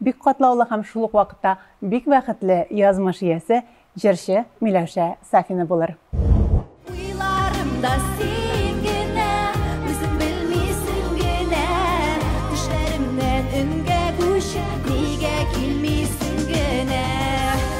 Бик катлаулы һәм шул ук вакытта бик бәхетле язмыш иясе җырчы Миләүшә Сафина булыр. Уйларымда син генә, үзең белмисең генә, Төшләремнән өнгә күчеп, нигә килмисең генә.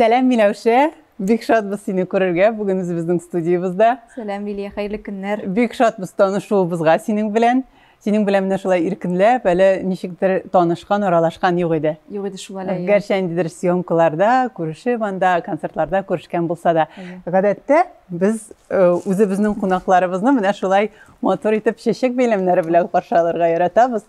Сәлам, Миләүшә! Бик шатбыз сине күрергә бүген үзебезнең студиябездә. Сәлам, Лилия, хәерле көннәр. Бик шатбыз танышуыбызга синең белән. Синең белән менә шулай иркенләп, әле ничектер танышкан, аралашкан юк иде. Юк иде шул әле. Гәрчә ниндидер съемкаларда күрешеп анда, концертларда күрешкән булса да. Гадәттә без э, үзебезнең кунакларыбызны менә шулай матур итеп чәчәк бәйләмнәре белән каршы алырга яратабыз.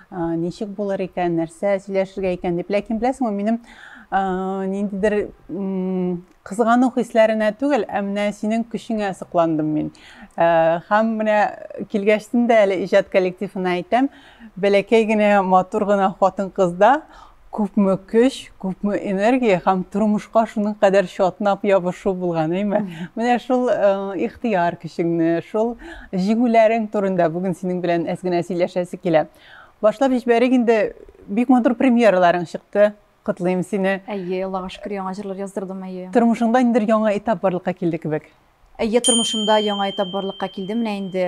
Ничек булыр икән, нәрсә сөйләшергә икән дип. Ләкин беләсеңме, минем ниндидер кызгану хисләренә түгел, ә менә синең көчеңә сокландым мин. Һәм менә килгәчтен дә әле иҗат коллективына әйтәм, бәләкәй генә матур гына хатын-кызда күпме көч, күпме энергия һәм тормышка шуның кадәр чатнап ябышу булган, әйме? Менә шул э, ихтыяр көчеңне, шул җиңүләрең турында бүген синең белән әз генә сөйләшәсе килә. Башлап җибәрик инде, бик матур премьераларың чыкты. Котлыйм сине. Әйе, Аллага шөкер, яңа җырлар яздырдым, әйе. Тормышыңда ниндер яңа этап барлыкка килде кебек. Әйе, тормышымда яңа этап барлыкка килде. Менә инде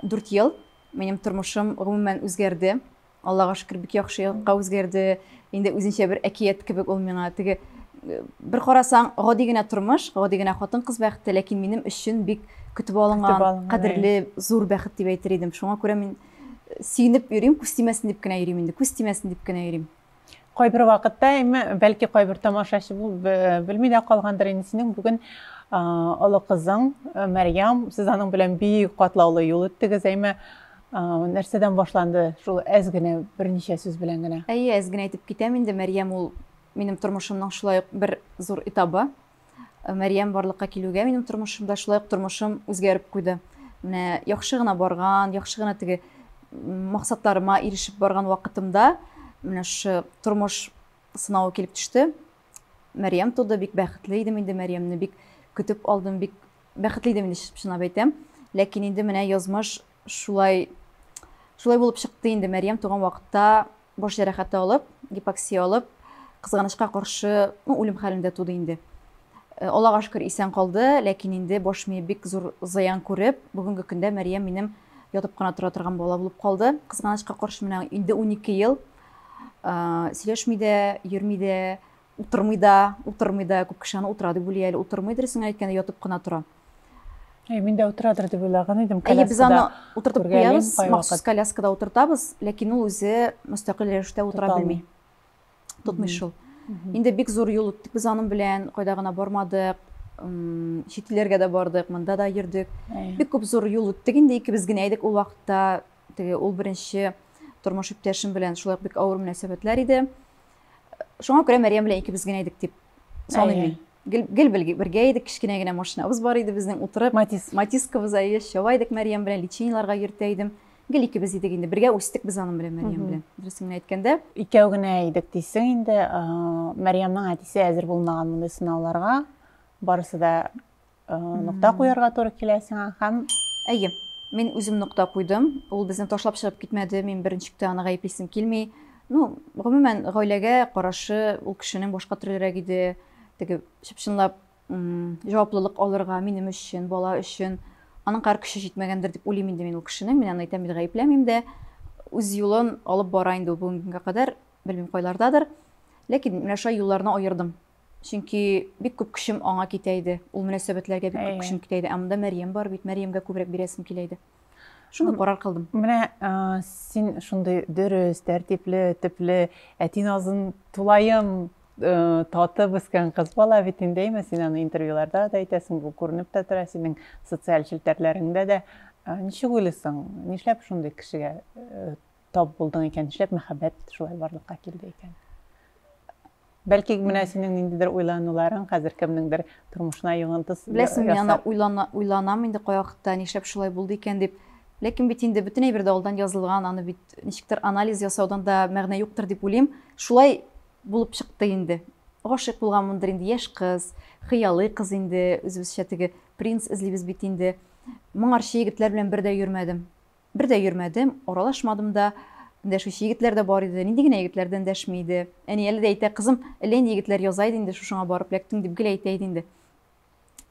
4 ел минем тормышым гомумән үзгәрде. Аллага шөкер, бик яхшы якка үзгәрде. Инде үзенчә бер әкият кебек ул миңа. Теге э, бер карасаң, гади генә тормыш, гади генә хатын-кыз бәхете, ләкин минем өчен бик көтеп алынган, кадерле, зур бәхет дип әйтер идем. Шуңа күрә мин э, сөенеп йөрим, күз тимәсен дип кенә йөрим инде, күз тимәсен дип кенә йөрим. Кайбер вакытта, әмма бәлки кайбер тамашачы э, белми дә калгандыр инде синең бүген олы кызың Мәрьям, сез аның белән бик катлаулы юл үттегез, әмма Нәрсәдән башланды шул әз генә берничә сүз белән генә? Әйе, әз генә әйтеп китәм инде, Мәрьям ул минем тормышымның шулай ук бер зур этабы. Э, Мәрьям барлыкка килүгә минем тормышымда шулай ук тормышым үзгәреп куйды. Менә яхшы гына барган, яхшы гына теге максатларыма ирешеп барган вакытымда менә шушы тормыш сынавы килеп төште. Мәрьям туды, бик бәхетле идем инде Мәрьямне, бик көтеп алдым, бик Бәхетле идем инде, чынлап әйтәм. Ләкин инде менә язмыш шулай шулай булып чыкты инде. Мәрьям туган вакытта баш җәрәхәте алып, гипоксия алып, кызганычка каршы, ну, үлем хәлендә туды инде. Э, Аллага шөкер исән калды, ләкин инде баш мие бик зур зыян күреп, бүгенге көндә Мәрьям минем ятып кына тора торган бала булып калды. Кызганычка каршы менә инде 12 ел э, сөйләшми дә, йөрми дә, Утырмый да, утырмый да, күп кеше аны утыра дип уйлый әле, утырмый дөресен әйткәндә ятып кына тора. Әй, мин дә утырадыр дип уйлаган идем, коляскада. Әйе, без аны утыртып куябыз, махсус коляскада утыртабыз, ләкин ул үзе мөстәкыйль рәвештә утыра белми. Тотмый шул. Инде бик зур юл үттек без аның белән, кайда гына бармадык, чит илләргә дә бардык, монда да йөрдек. Бик күп зур юл үттек инде, икебез генә идек ул вакытта. Теге ул беренче тормыш иптәшем белән шулай бик авыр мөнәсәбәтләр иде. шуңа күрә мәрьям белән икебез генә идек дип саныйм мин гел, гел бергә идек кечкенә генә машинабыз бар иде безнең утырып матис матискабыз әйе чаба идек мәрьям белән лечениеларга йөртә идем гел икебез идек инде бергә үстек без аның белән мәрьям белән дөресен генә әйткәндә икәү генә идек дисең инде мәрьямның әтисе әзер булмаган мондый сынауларга барысы да нокта куярга туры килә сиңа һәм әйе мин үзем нокта куйдым ул безне ташлап чыгып китмәде мин беренчектә аны гаеплисем килми ну гомумән гаиләгә карашы ул кешенең башка төрлерәк иде теге чып чынлап җаваплылык алырга минем өчен бала өчен аның кар көче җитмәгәндер дип уйлыйм инде мин ул кешенең мин аны әйтәм бит гаепләмим дә үз юлын алып бара инде ул бүгенгә кадәр белмим кайлардадыр ләкин менә шулай юлларны аердым Чөнки бик күп көчем аңа китә иде. Ул мөнәсәбәтләргә бик күп көчем китә иде. Ә монда Мәрьям бар бит, Мәрьямгә күбрәк бирәсем килә иде. Шундый карар кылдым. Менә син шундый дөрес, тәртипле, төпле, әти назын тулаем татып үскән кыз бала бит инде, әйме? Син аны интервьюларда да әйтәсең, бу күренеп тә тора, синең социаль челтәрләреңдә дә. Ничек уйлыйсың, нишләп шундый кешегә тап булдың икән, нишләп мәхәббәт шулай барлыкка килде икән? Бәлки менә синең ниндидер уйлануларың хәзер кемнеңдер тормышына йогынты ясар. Беләсең, мин аны уйлана, уйланам инде кай вакытта, нишләп шулай булды икән дип. Ләкин бит инде бөтен әйбер дә алдан язылган, аны бит ничектер анализ ясаудан да мәгънә юктыр дип уйлыйм. Шулай булып чыкты инде. Гашыйк булганмындыр инде, яшь кыз, хыялый кыз инде, үзебезчә теге принц эзлибез бит инде. Моңарчы егетләр белән бер дә йөрмәдем. Бер дә йөрмәдем, аралашмадым да. Дәшүче егетләр дә бар иде. Нинди генә егетләрдән дәшми иде. Әни әле дә әйтә, Кызым, әллә инде егетләр яза иде инде, шушыңа барып ләктең, дип гел әйтә иде инде.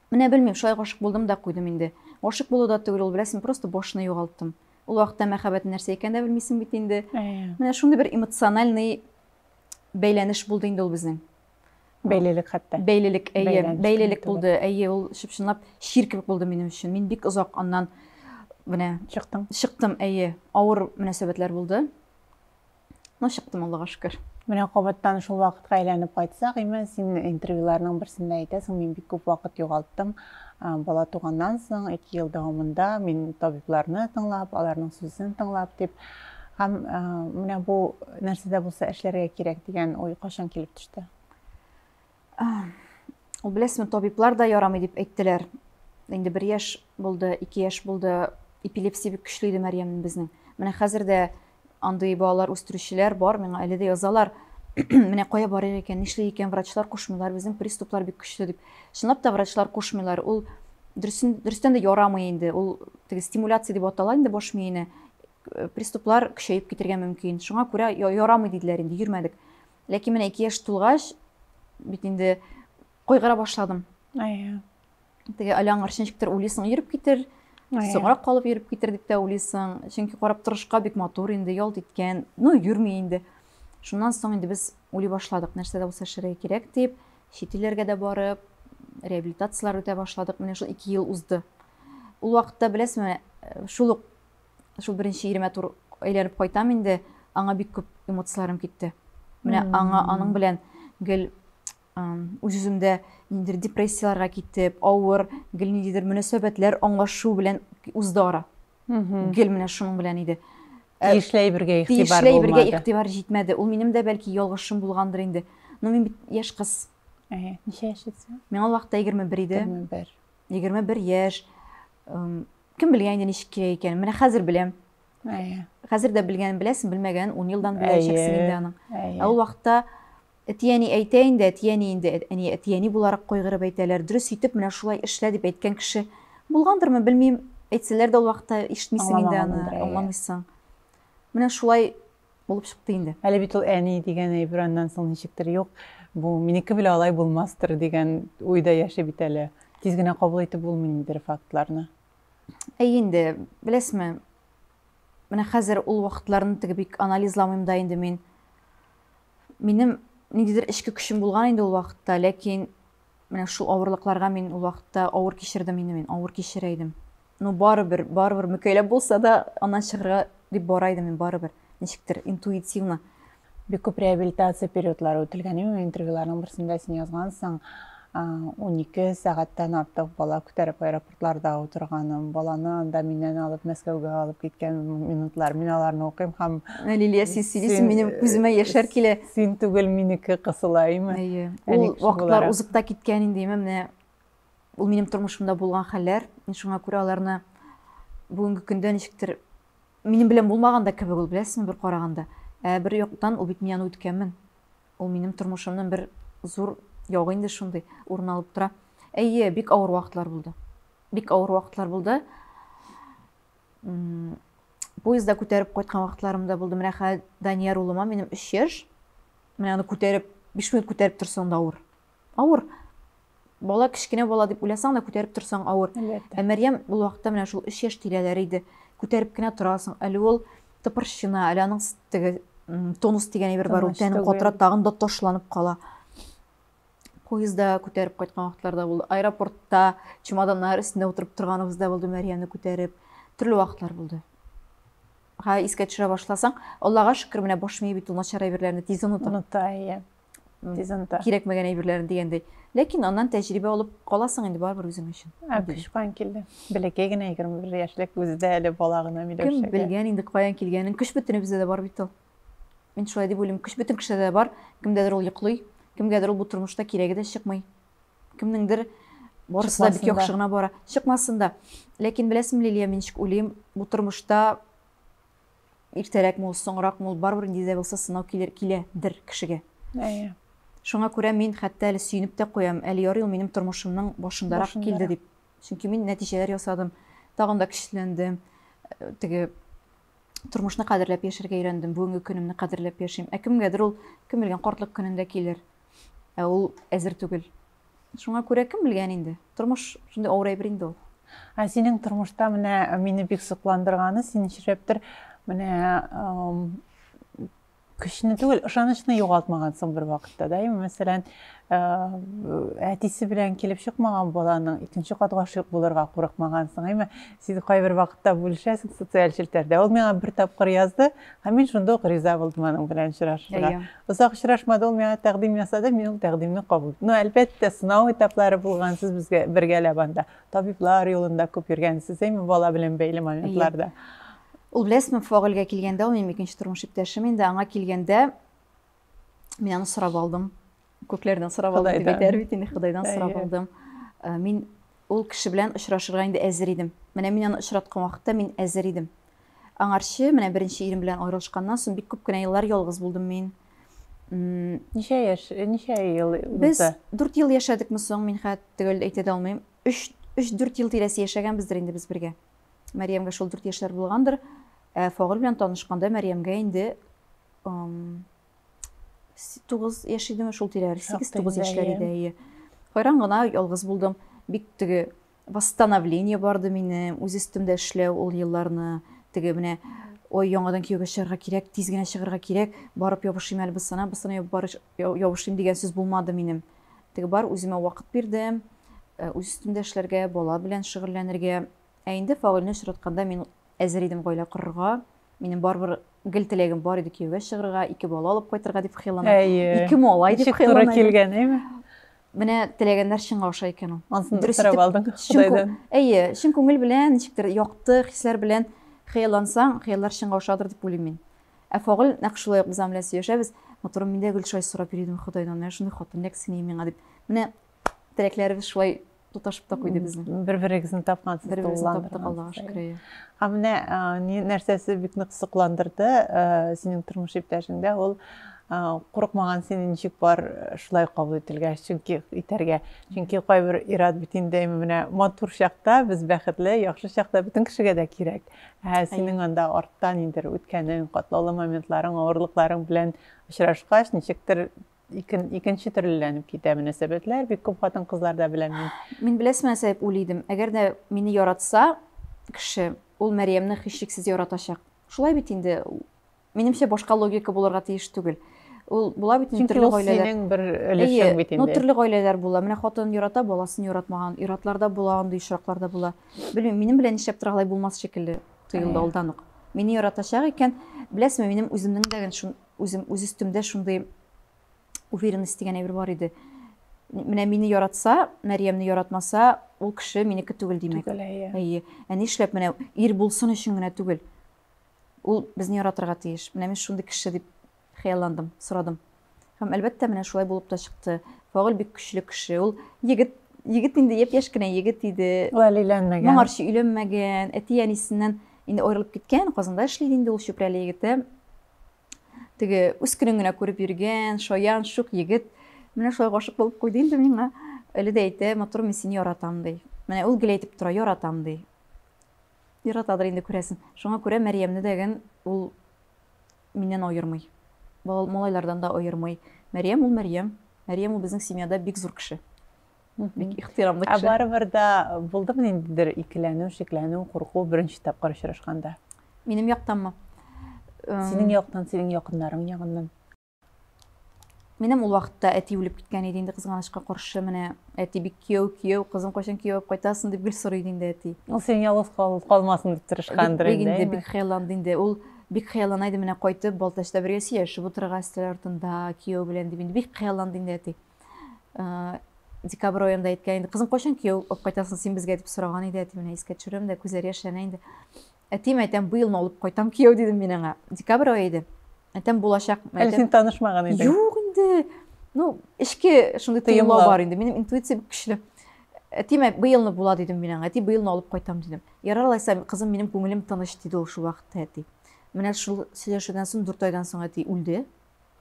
Менә белмим, шулай гашык булдым да куйдым инде. Гашык булу да түгел ул, беләсең, просто башны югалттым. Ул вакытта мәхәббәт нәрсә икәнен дә белмисең бит инде. Әйе. Менә шундый бер эмоциональный бәйләнеш булды инде ул безнең. Бәйлелек хәтта. Бәйлелек, әйе, бәйлелек булды. Әйе, ул чып-чынлап чир кебек булды минем өчен. Мин бик озак аннан менә чыктым. Чыктым, әйе. Авыр мөнәсәбәтләр булды. Но чыктым, Аллага шөкер. Менә кабаттан шул вакытка әйләнеп кайтсак, имән, син интервьюларның берсендә әйтәсең, мин бик күп вакыт югалттым. Бала туганнан соң 2 ел дәвамында мин табибларны тыңлап, аларның сүзен тыңлап дип Һәм менә бу нәрсә дә булса эшләргә кирәк дигән уй кашан килеп төште? Ул беләсме, табиблар да ярамый дип әйттеләр. Инде бер яш булды, ике яш булды, эпилепсия бик көчле иде Мәриямнең безнең. Менә хәзер дә андый балалар үстерүчеләр бар, миңа әле дә язалар. Менә кая барыйк икән, нишли икән, врачлар кушмыйлар, безнең приступлар бик көчле дип. Чынлап та врачлар кушмыйлар. Ул дөрестән дә ярамый инде. Ул теге стимуляция дип атала инде баш миенә. э, приступлар көчәеп китергә мөмкин шуңа күрә ярамый диделәр инде йөрмәдек ләкин менә ике яшь тулгач бит инде кайгыра башладым теге әле аңарчы ничектер уйлыйсың йөреп китер соңрак калып йөреп китер дип тә уйлыйсың чөнки карап торышка бик матур инде ялт иткән ну йөрми инде шуннан соң инде без уйлый башладык нәрсә дә булса эшләргә кирәк дип чит илләргә дә барып реабилитациялар үтә башладык менә шул ике ел узды ул вакытта беләсеңме э, шул ук шул беренче иремә туры әйләнеп кайтам инде, аңа бик күп эмоцияләрем китте. Менә аңа аның белән гел үз-үземдә ниндидер депрессияләргә китеп, авыр, гел ниндидер мөнәсәбәтләр аңлашу белән узды ара. Гел менә шуның белән иде. Э, тиешле әйбергә игътибар булмады. Тиешле әйбергә игътибар җитмәде. Ул минем дә бәлки ялгышым булгандыр инде. Но мин бит яшь кыз. Әйе, ничә яшь итсә? Миңа ул вакытта 21 иде. 21. 21 яшь. Кем белгән инде ничек килә икән. Менә хәзер беләм. Әйе. Хәзер дә белгәнен беләсең, белмәгәнен 10 елдан беләчәксең инде аның. Ә ул вакытта әтияни әйтә инде, әтияни инде, әни әтияни буларак кайгырып әйтәләр. Дөрес итеп менә шулай эшлә дип әйткән кеше булгандырмы, белмим. Әйтсәләр дә ул вакытта ишетмисең инде аны, аңламыйсың. Менә шулай Булып чыкты инде. Әле бит ул әни дигән әйбер аннан соң ничектер юк, бу минеке белән алай булмастыр дигән уйда яши бит әле. Тиз генә кабул итеп булмый нидер фактларны. Әй инде, беләсме, менә хәзер ул вакытларны теге бик анализламыйм да инде мин. Минем ниндидер эчке көчем булган инде ул вакытта, ләкин Менә шул авырлыкларга мин ул вакытта авыр кичердем инде мин, авыр кичерә идем. Ну, барыбер, барыбер мөкәйләп булса да аннан чыгарга дип бара идем мин барыбер. Ничектер интуитивно. Бик күп реабилитация периодлары үтелгән иде. Интервьюларның берсендә син язгансың, 12 сәгатьтән артык бала күтәреп аэропорт йортларда утырганым, баланы анда миннән алып Мәскәүгә алып киткән минутлар. Мин аларны укыйм һәм Лилия, син сөйлисең, минем күземә э, яшәр килә. Син түгел, минеке кысыла, әйме? Әйе. Ул вакытлар узып та киткән инде, әйме, менә ул минем тормышымда булган хәлләр. Мин шуңа күрә аларны бүгенге көндә ничектер минем белән булмаган да кебек ул, беләсеңме, бер караганда. Ә бер яктан ул бит мин аны үткәнмен. Ул минем тормышымның бер зур ягы инде шундый урын алып тора. Әйе, бик авыр вакытлар булды. Бик авыр вакытлар булды. Поезда күтәреп кайткан вакытларым да булды. Менә хәзер Данияр улыма минем 3 яшь. Менә аны күтәреп, 5 минут күтәреп торсаң да авыр. Авыр. Бала кечкенә бала дип уйласаң да күтәреп торсаң авыр. Әлбәттә. Ә Мәрьям ул вакытта менә шул 3 яшь тирәләре иде. Күтәреп кенә торасың. Әле ул тыпырчына, әле аның теге тонус дигән әйбер бар, ул тәнен катыра, тагын да ташланып кала. Поездда күтәреп кайткан вакытларда булды. Аэропортта чемоданнар өстендә утырып торганыбыз да булды, Мәрьямне күтәреп. Төрле вакытлар булды. Ха, искә төшерә башласаң, Аллага шөкер, менә баш мие бит ул начар әйберләрне тиз оныта. Оныта, иә. дизенты. Кирәкмәгән әйберләрен дигәндәй. Ләкин аннан тәҗрибә алып каласың инде барыбер үзең өчен. Ә көч каян килде? Бәләкәй генә егерме бер яшьлек үзе дә әле бала гына Миләүшәгә. Кем белгән инде каян килгәнен, көч бөтенебездә дә бар бит ул. Мин шулай дип уйлыйм, көч бөтен кешедә дә бар, кемдәдер ул йоклый, кемгәдер ул бу тормышта кирәге дә чыкмый. Кемнеңдер барысы да бик яхшы гына бара. Чыкмасын да. Ләкин беләсеңме, Лилия, мин ничек уйлыйм, бу тормышта Иртәрәкме ул, соңракмы ул, барыбер нинди дә булса сынау килер, килә, дер кешегә. Әйе. Шуңа күрә мин хәтта әле сөенеп тә куям, әле ярый ул минем тормышымның башындарак Башында. килде дип. Чөнки мин нәтиҗәләр ясадым, тагын да көчләндем, э, теге тормышны кадерләп яшәргә өйрәндем, бүгенге көнемне кадерләп яшим. Ә кемгәдер ул, кем белгән, картлык көнендә килер. Ә ул әзер түгел. Шуңа күрә кем белгән инде. Тормыш шундый авыр әйбер инде ул. Ә синең тормышта менә мине бик сокландырганы, син нишләптер менә көчне түгел, ышанычны югалтмагансың бер вакытта да. Яме мәсәлән, әтисе белән килеп чыкмаган баланың икенче кат гашыйк булырга курыкмагансың. Яме Син кайбер вакытта бүлешәсең социаль челтәрдә. Ул миңа бер тапкыр язды, һәм мин шунда ук риза булдым аның белән очрашырга. Озак очрашмады, ул миңа тәкъдим ясады, мин ул тәкъдимне кабул иттем. Ну, әлбәттә, сынау этаплары булган, сез безгә бергәләп анда табиблар юлында күп йөргәнсез, әйме, бала белән бәйле моментларда. Ул беләсезме, Фагылгә килгәндә, ул минем икенче тормыш иптәшем инде, аңа килгәндә, мин аны сорап алдым. Күкләрдән сорап алдым дип әйтәр бит инде, Ходайдан сорап алдым. Э, мин ул кеше белән очрашырга инде әзер идем. Менә мин аны очраткан вакытта мин әзер идем. Аңарчы менә беренче ирем белән аерылышканнан соң бик күп кенә еллар ялгыз булдым мин. Ничә яшь, э, ничә ел узды? Без 4 ел яшәдекме соң, мин хәт төгәл әйтә дә алмыйм. 3-4 ел тирәсе яшәгәнбездер инде без бергә. Мәриямгә шул 4 яшьләр булгандыр. Ә Фагыл белән танышканда Мәриямгә инде тугыз яшь идеме шул тирәләр сигез тугыз яшьләр иде әйе кайран гына ялгыз булдым бик теге восстановление барды минем үз өстемдә эшләү ул елларны теге менә ой яңадан кияүгә чыгарга кирәк тиз генә чыгарга кирәк барып ябышыйм әле бысана бысана ябышыйм дигән сүз булмады минем теге бар үземә вакыт бирдем э, үз өстемдә эшләргә бала белән шөгыльләнергә ә инде фаулне очратканда мин Әзер идем гаилә корырга. Минем барыбер гел теләгем бар иде кияүгә чыгырга, ике бала алып кайтырга дип хыяллана. Ике малай дип хыяллана. Ничек туры килгән, әйме? Менә теләгәннәр чынга аша икән ул. Ансын дөрес итеп алдың Худайдан. Әйе, чын күңел белән, ничектер якты хисләр белән хыяллансаң, хыяллар чынга ашадыр дип уйлыйм мин. Ә Фагыл нәкъ шулай ук без аның белән сөйләшәбез. Матурым, мин дә гел шулай сорап йөри идем Худайдан, менә шундый хатын нәкъ синең миңа дип. Менә теләкләребез шулай тоташып та куйды безне. Бер-берегезне тапкансыз. Бер-берегезне таптык, Аллага шөкер. Ә менә нәрсәсе бик нык кызыкландырды синең тормыш иптәшеңдә, ул курыкмаган сине ничек бар шулай кабул ителгәч, чөнки итәргә. Чөнки кайбер ир-ат бит инде менә матур чакта, без бәхетле, яхшы чакта бөтен кешегә дә кирәк. Ә синең анда арттан инде үткәнең, катлаулы моментларың, авырлыкларың белән очрашкач, ничектер икен, икенче төрлеләнеп китә мөнәсәбәтләр. Бик күп хатын-кызларда белән мин. Мин беләсме, Сәйп уйлый идем. Әгәр дә мине яратса кеше, ул Мәрьямне хищексез яратачак. Шулай бит инде. Минемчә башка логика булырга тиеш түгел. Ул була бит инде төрле гаиләләр. Синең бер өлешең бит инде. Ну төрле гаиләләр була. Менә хатын ярата, баласын яратмаган. Иратларда була, андый очракларда була. Белмим, минем белән нишләп торгалай булмас шикелле тоелды алдан ук. Мине яратачак икән, беләсме, минем үземнең дә шундый Үзем үз өстемдә шундый уверенность дигән әйбер бар иде. Менә мине яратса, Мәриямне яратмаса, ул кеше минеке түгел димәк. Түгел, әйе. Әйе. Ә нишләп менә ир булсын өчен генә түгел. Ул безне яратырга тиеш. Менә мин шундый кеше дип хыялландым, сорадым. Һәм әлбәттә, менә шулай булып та чыкты. Фагыл бик көчле кеше. Ул егет егет инде япь-яшь кенә егет иде. Ул әле өйләнмәгән. Моңарчы өйләнмәгән. Әти-әнисеннән инде аерылып киткән, Казанда эшли инде ул Чүпрәле егете. теге үз көнен генә күреп йөргән шаян шук егет менә шулай гашык булып куйды инде миңа әле дә әйтә матур мин сине яратам ди менә ул гел әйтеп тора яратам ди яратадыр инде күрәсең шуңа күрә мәриямне дәген ул миннән аермый малайлардан да аермый мәриям ул мәриям мәриям ул безнең семьяда бик зур кеше бик ихтирамлы кеше. Ә барыбер дә булдымы ниндидер икеләнү, шикләнү, курку беренче тапкыр очрашканда? Минем яктанмы? Синең яктан, синең якыннарың ягыннан. Минем ул вакытта әти үлеп киткән иде инде кызганычка каршы. Менә әти бик кияү, кияү, кызым кайчан кияү алып кайтасың дип гел сорый иде инде әти. Ул син ялгыз калмасын дип тырышкандыр инде. Бик инде бик хыялланды инде. Ул бик хыяллана иде менә кайтып, Балтачта бергә сөйләшеп утырырга өстәл артында кияү белән дип инде бик хыялланды инде әти. Э, декабрь аенда әйткән инде кызым кайчан кияү алып кайтасың син безгә дип сораган иде әти менә искә төшерәм дә күзләре яшьләнә инде әтием әйтәм быелны алып кайтам кияү дидем мин аңа декабрь ае иде әтәм булачак әле син танышмаган идең юк инде ну эчке шундый тыйымлау бар инде минем интуиция бик көчле әтием быелны була дидем мин аңа әти быелны алып кайтам дидем ярар алайса кызым минем күңелем тыныч диде ул шул вакытта әти менә шул сөйләшүдән соң дүрт айдан соң әти үлде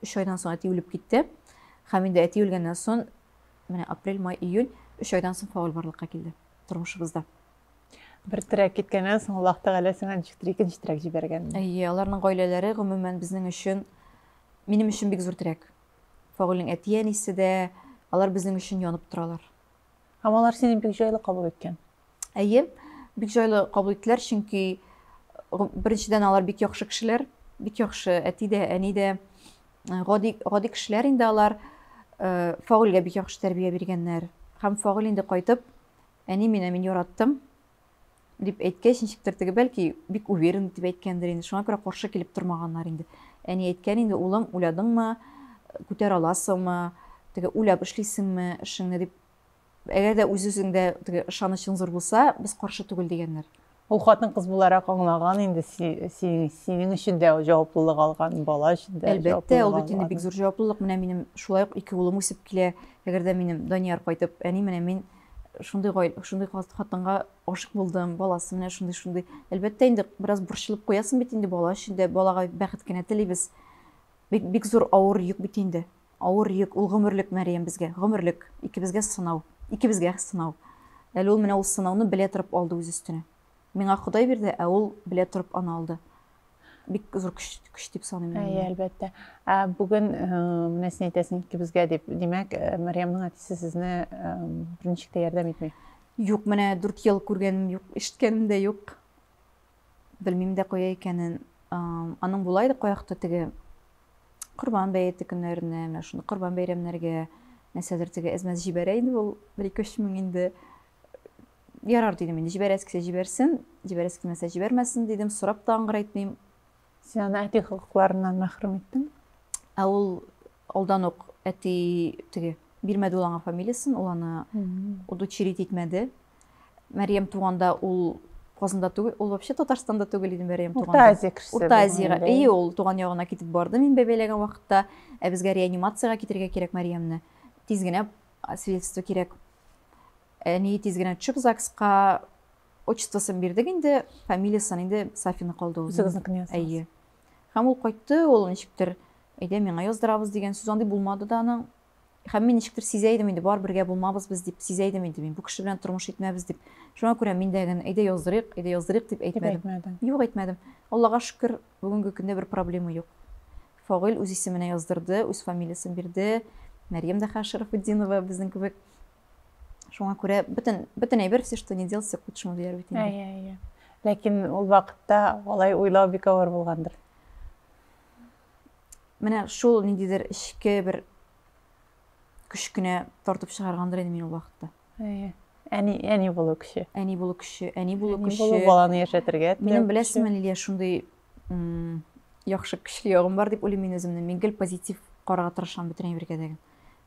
Өч айдан соң әти үлеп китте. Һәм инде әти үлгәннән соң, менә апрель, май, июнь, өч айдан соң фауль барлыкка килде тормышыбызда. Бер терәк киткәннән соң Аллаһ Тәгалә сиңа ничектер икенче терәк җибәргән. Әйе, аларның гаиләләре гомумән безнең өчен, минем өчен бик зур терәк. Фаульнең әти-әнисе дә, алар безнең өчен янып торалар. Һәм алар сине бик җайлы кабул иткән. Әйе, бик җайлы кабул иттеләр, чөнки беренчедән алар бик яхшы кешеләр, бик яхшы әти дә, әни дә, гади, гади кешеләр инде алар. Э, Фагылгә бик яхшы тәрбия биргәннәр. Һәм Фагыл инде кайтып, әни мине мин яраттым, дип әйткәч, ничектер теге бәлки бик уверен дип әйткәндер инде. Шуңа күрә каршы килеп тормаганнар инде. Әни әйткән инде, улым, уйладыңмы, күтәр аласыңмы, теге уйлап эшлисеңме эшеңне дип Әгәр дә үз-үзеңдә теге ышанычың зур булса, без каршы түгел дигәннәр. Ул хатын-кыз буларак аңлаган инде синең өчен дә җаваплылык алган, бала өчен дә. Әлбәттә, ул бит инде бик зур җаваплылык. Менә минем шулай ук ике улым үсеп килә. Әгәр дә минем Данияр кайтып, әни, менә мин шундый гаилә, шундый хатынга гашык булдым, баласы менә шундый, шундый. Әлбәттә, инде бераз борчылып куясың бит инде бала өчен дә, балага бәхет кенә телибез. Бик, бик зур авыр йөк бит инде. Авыр йөк, ул гомерлек, Мәрьям, безгә, гомерлек, икебезгә сынау, икебезгә сынау. Әле ул менә ул сынауны белә торып алды үз өстенә. Миңа Ходай бирде, ә ул белә торып аны алды. Бик зур көч, көч дип саныйм мин. Әйе, әлбәттә. Ә бүген менә син әйтәсең, икебезгә дип. Димәк, Мәрьямнең әтисе сезне берничек тә ярдәм итми? Юк, менә дүрт ел күргәнем юк, ишеткәнем дә юк. Белмим дә кая икәнен. Аның болай да каякты теге Корбан бәете көннәренә, менә шуны Корбан бәйрәмнәргә нәрсәдер теге әзмәз җибәрә иде ул 1-2 мең инде. Ярар дидем инде, җибәрәсе килсә җибәрсен, җибәрәсе килмәсә җибәрмәсен дидем, сорап та аңгыра итмим. Син аны әти хокукларыннан мәхрүм иттең. Ә ул алдан ук әти теге бирмәде ул аңа фамилиясен, ул аны удочерить итмәде. Мәрьям туганда ул Казанда түгел, ул вообще Татарстанда түгел иде Мәрьям туганда. Урта Азия кешесе. Урта Азияга. Әйе, ул туган ягына китеп барды мин бәбәйләгән вакытта. Ә безгә реанимациягә китергә кирәк Мәрьямне. Тиз генә свидетельство кирәк. Әни тиз генә төшеп ЗАГСка Отчествосын бирдек инде, фамилиясын инде Сафина калды ул. Үзегезнекене яздыгыз. Әйе. Һәм ул кайтты, ул ничектер, әйдә миңа яздырабыз дигән сүз андый булмады да аның. Һәм мин ничектер сизә идем инде, бар бергә булмабыз без дип сизә идем инде мин, бу кеше белән тормыш итмәбез дип. Шуңа күрә мин дә генә әйдә яздырыйк, әйдә яздырыйк дип әйтмәдем. Дип әйтмәдем. Юк, әйтмәдем. Аллага шөкер, бүгенге көндә бер проблема юк. Фагыйл үз исеменә яздырды, үз фамилиясын бирде. Мәрьям дә хәзер Шәрәфетдинова безнең кебек. шуңа күрә бөтен бөтен әйбер все что не дел все к лучшему дияр бит инде әйе әйе ләкин ул вакытта алай уйлау бик авыр булгандыр менә шул ниндидер эчке бер көчкенә тартып чыгаргандыр инде мин ул вакытта әйе әни әни булу көче әни булу көче әни булу көче әни баланы яшәтергә минем беләсеңме лилия шундый яхшы көчле ягым бар дип уйлыйм мин үземне мин гел позитив карарга тырышам бөтен әйбергә дә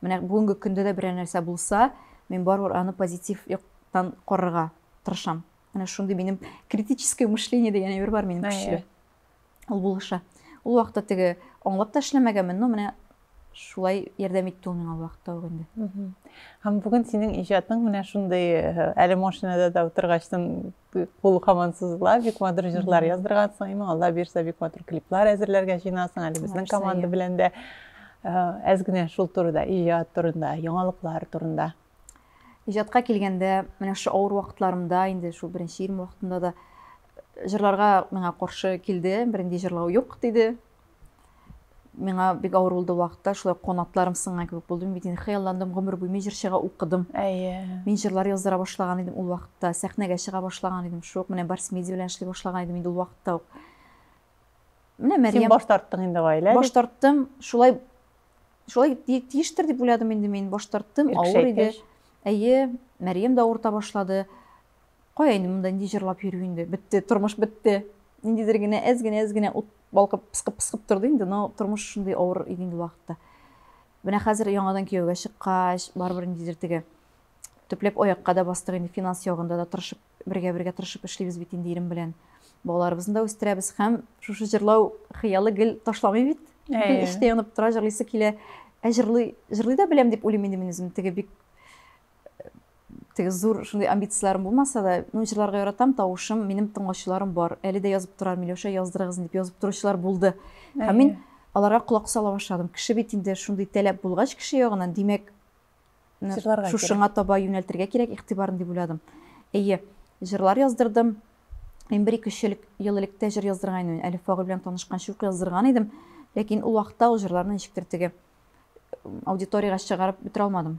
Менә бүгенге көндә дә берәр нәрсә булса, мин барыбер аны позитив яктан карарга тырышам. Менә шундый минем критическое мышление дигән әйбер бар минем көчле. Ул булыша. Ул вакытта теге аңлап та эшләмәгәнмен, но менә шулай ярдәм итте ул миңа ул вакытта ук инде. Һәм бүген синең иҗатың менә шундый, әле машинада да утыргачтын кул хаман сузыла бик матур җырлар яздыргансың имин алла бирсә бик матур клиплар әзерләргә җыенасың әле безнең команда белән дә әз генә шул турыда иҗат турында яңалыклар турында иҗатка килгәндә менә шушы авыр вакытларымда инде шул беренче ирем вакытында да җырларга миңа каршы килде бернинди җырлау юк диде миңа бик авыр булды вакытта шулай канатларым сынган кебек булды бит инде хыялландым гомер буе мин җырчыга укыдым әйе мин җырлар яздыра башлаган идем ул вакытта сәхнәгә чыга башлаган идем шук менә барс медиа белән эшли башлаган идем инде ул вакытта ук менә мәрьям син баш тарттың инде гаилә баш тарттым шулай шулай тиештер дип уйладым инде мин баш тарттым авыр иде әйе мәрьям да авырта башлады Кая инде монда нинди җырлап йөрү инде, бетте, тормыш бетте. Ниндидер генә әз генә әз генә ут балкып пыскып пыскып торды инде, но тормыш шундый авыр иде инде вакытта. Менә хәзер яңадан кияүгә чыккач, барыбер ниндидер теге төпләп аякка да бастык инде финанс ягында да тырышып, бергә-бергә тырышып эшлибез бит инде ирем белән. Балаларыбызны да үстерәбез һәм шушы җырлау хыялы гел ташламый бит. Гел эштә янып тора, җырлыйсы килә. Ә җырлый, җырлый да беләм дип уйлыйм инде мин үзем. Теге бик теге зур шундый амбицияләрем булмаса да, ну, җырларга яратам, тавышым, минем тыңлаучыларым бар. Әле дә язып торар, Миләүшә, яздырыгызны дип язып торучылар булды. Һәм мин аларга колак сала башладым. Кеше бит инде шундый таләп булгач кеше ягынан, димәк, шушыңа таба юнәлтергә кирәк игътибарын дип уйладым. Әйе, җырлар яздырдым. Мин бер ике ел элек тә җыр яздырган идем. Әлиф Фагыл белән танышкан чук яздырган идем. Ләкин ул вакытта ул җырларны ничектер теге аудиториягә чыгарып бетерә алмадым.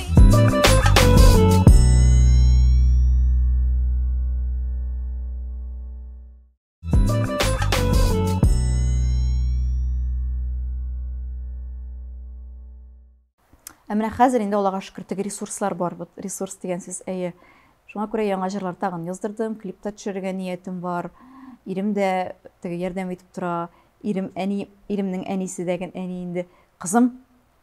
Ә менә хәзер инде Аллага шөкер теге ресурслар бар. Вот ресурс дигән сүз әйе. Шуңа күрә яңа җырлар тагын яздырдым, клип та төшерергә ниятем бар. Ирем дә теге ярдәм итеп тора. Ирем әни, иремнең әнисе дә әни инде. Кызым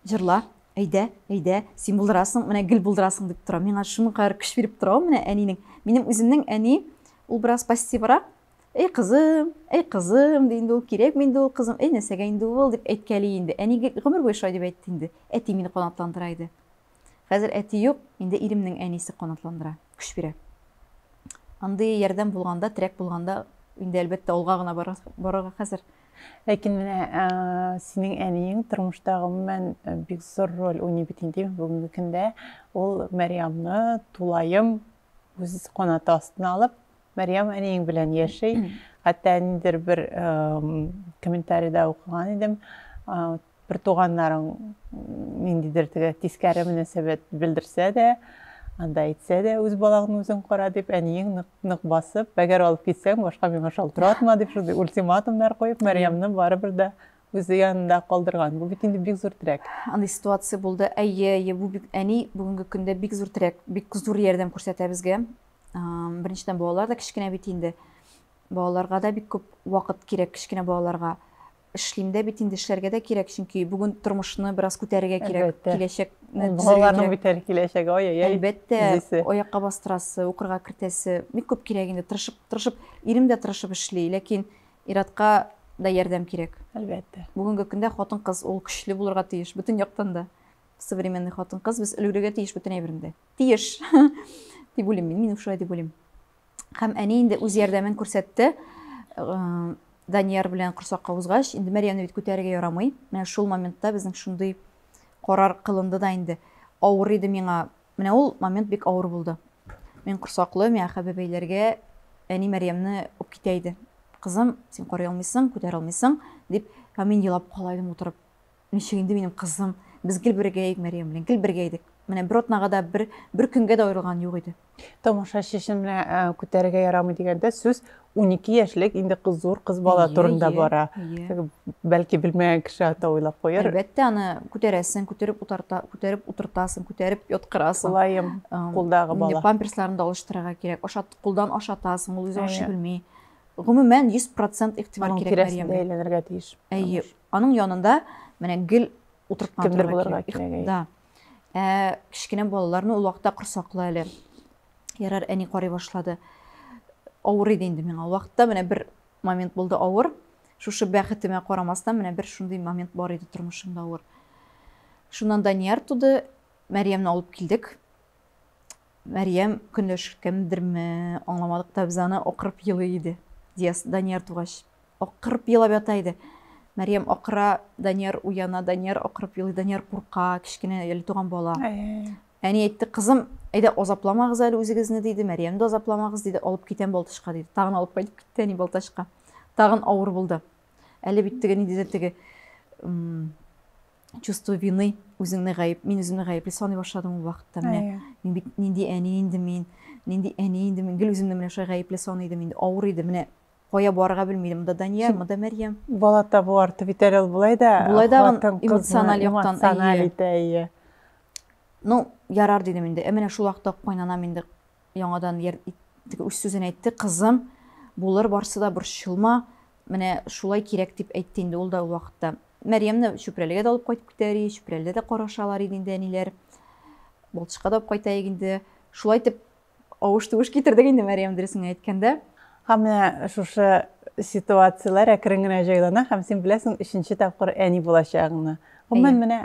Җырла, әйдә, әйдә, син булдырасың, менә гел булдырасың, дип тора. Миңа шуның кадәр көч биреп тора ул менә әнинең. Минем үземнең әни, ул бераз пассиврак. Әй кызым, әй кызым, ди инде ул, кирәкми инде ул кызым, әй нәрсәгә инде ул, дип әйткәли инде. Әни гомер буе шулай дип әйтте инде. Әти мине канатландыра иде. Хәзер әти юк, инде иремнең әнисе канатландыра, көч бирә. Андый ярдәм булганда, терәк булганда, инде әлбәттә алга гына барырга хәзер. Ләкин менә синең әниең тормышта гомумән бик зур роль уйный бит инде бүгенге көндә. Ул Мәрьямны тулаем үз канаты астына алып, Мәрьям әниең белән яши. Хәтта ниндидер бер комментарийда укыган идем, Бертуганнарың ниндидер теге тискәре мөнәсәбәт белдерсә дә, анда әйтсә дә, үз балаңны үзең кара дип, әниең нык, нык басып, әгәр алып китсәң, башка миңа шалтыратма дип, шундый ультиматумнар куеп, Мәрьямне барыбер дә үзе янында калдырган. Бу бит инде бик зур терәк. Андый ситуация булды. Әйе, әйе, бу бик әни бүгенге көндә бик зур терәк, бик зур ярдәм күрсәтә безгә. Беренчедән, балалар да кечкенә бит инде. Балаларга да бик күп вакыт кирәк, кечкенә балаларга. Эшлим дә бит инде, эшләргә дә кирәк, чөнки бүген тормышны бераз күтәрергә кирәк, Әлбәттә. киләчәкне Ул төзергә балаларның кирәк. бит әле киләчәге, ай-яй-яй. Әлбәттә, Зисе. аякка бастырасы, укырга кертәсе, бик күп кирәк инде. Тырышып, тырышып, ирем дә тырышып эшли, ләкин ир-атка да ярдәм кирәк. Әлбәттә. Бүгенге көндә хатын-кыз ул көчле булырга тиеш, бөтен яктан да. Современный хатын-кыз, без өлгерергә тиеш бөтен әйбердә. Тиеш! дип уйлыйм мин, мин шулай дип уйлыйм. Һәм әни инде үз ярдәмен күрсәтте. Данияр белән корсакка узгач, инде Мәрьямне бит күтәрергә ярамый. Менә шул моментта безнең шундый карар кылынды да инде. Авыр иде миңа. Менә ул момент бик авыр булды. Мин корсаклы, миңа хәбе бәйләргә әни Мәрьямне үп китә иде. Кызым, син карый алмыйсың, күтәрә алмыйсың, дип, һәм мин елап кала идем утырып. Ничек инде минем кызым, без гел бергә идек Мәрьям белән, гел бергә идек. Менә бер атнага да, бер, бер көнгә дә аерылган юк иде. Тамашачы өчен менә ә, күтәрергә ярамый дигәндә сүз 12 яшьлек инде кыз зур кыз бала Ие, турында ие, бара. ие. Теге Бәлки белмәгән кеше ата уйлап куяр. Әлбәттә, аны күтәрәсең, күтәреп утарта, күтәреп утыртасың, күтәреп яткырасың. Кулаем, Ам, кулдагы Инде бала. памперсларын да алыштырырга кирәк. Ашат, кулдан ашатасың, ул үзе ашый Әйе. белми. Гомумән, 100% игътибар Аның кирәк тирәсендә Мәрьямгә. әйләнергә тиеш. Әйе, Аның янында менә гел утырткан Кемдер булырга кирәк. Да. Ә, кечкенә балаларны ул вакытта корсаклы әле. Ярар, әни карый башлады. Авыр иде инде миңа. Ул вакытта менә бер момент булды авыр. Шушы бәхетемә карамастан, менә бер шундый момент бар иде тормышымда авыр. Шуннан Данияр туды, Мәриямне алып килдек. Мәрьям, көнләшкәндерме, аңламадык та без аны, акырып елый иде. Дияс, Данияр тугач, акырып елап ята иде. Мәрьям акыра, Данияр уяна, Данияр акырып елый, Данияр курка, кечкенә әле туган бала. Әни әйтте, кызым, әйдә азапламагыз әле үзегезне, диде, Мәрьям дә азапламагыз, диде, алып китәм Балтачка, диде. Тагын алып кайтып китте әни Балтачка. Тагын авыр булды. Әле бит теге ниндидер теге чувство вины үзеңне гаеп мин үземне гаепле саный башладым ул вакытта менә мин бит нинди әни инде мин нинди әни инде мин гел үземне менә шулай гаепле саный идем инде авыр иде менә кая барырга белми идем монда дания монда мәрьям бала табу арты бит әле ул болай да болай да эмоциональ яктан әйе ну ярар дидем инде ә менә шул вакытта кайнанам инде яңадан үз сүзен әйтте кызым булыр барсы да борчылма менә шулай кирәк дип әйтте инде ул да ул вакытта Мәрьямне Чүпрәлегә дә алып кайтып китәр и, Чүпрәледә дә карашалар иде инде әниләр. Балтычка да алып кайтаек инде. Шулай итеп, авыш-тувыш китердек инде Мәрьям дөресен әйткәндә. Һәм менә шушы ситуацияләр әкрен генә җайлана һәм син беләсең өченче тапкыр әни булачагыңны. Гомумән, менә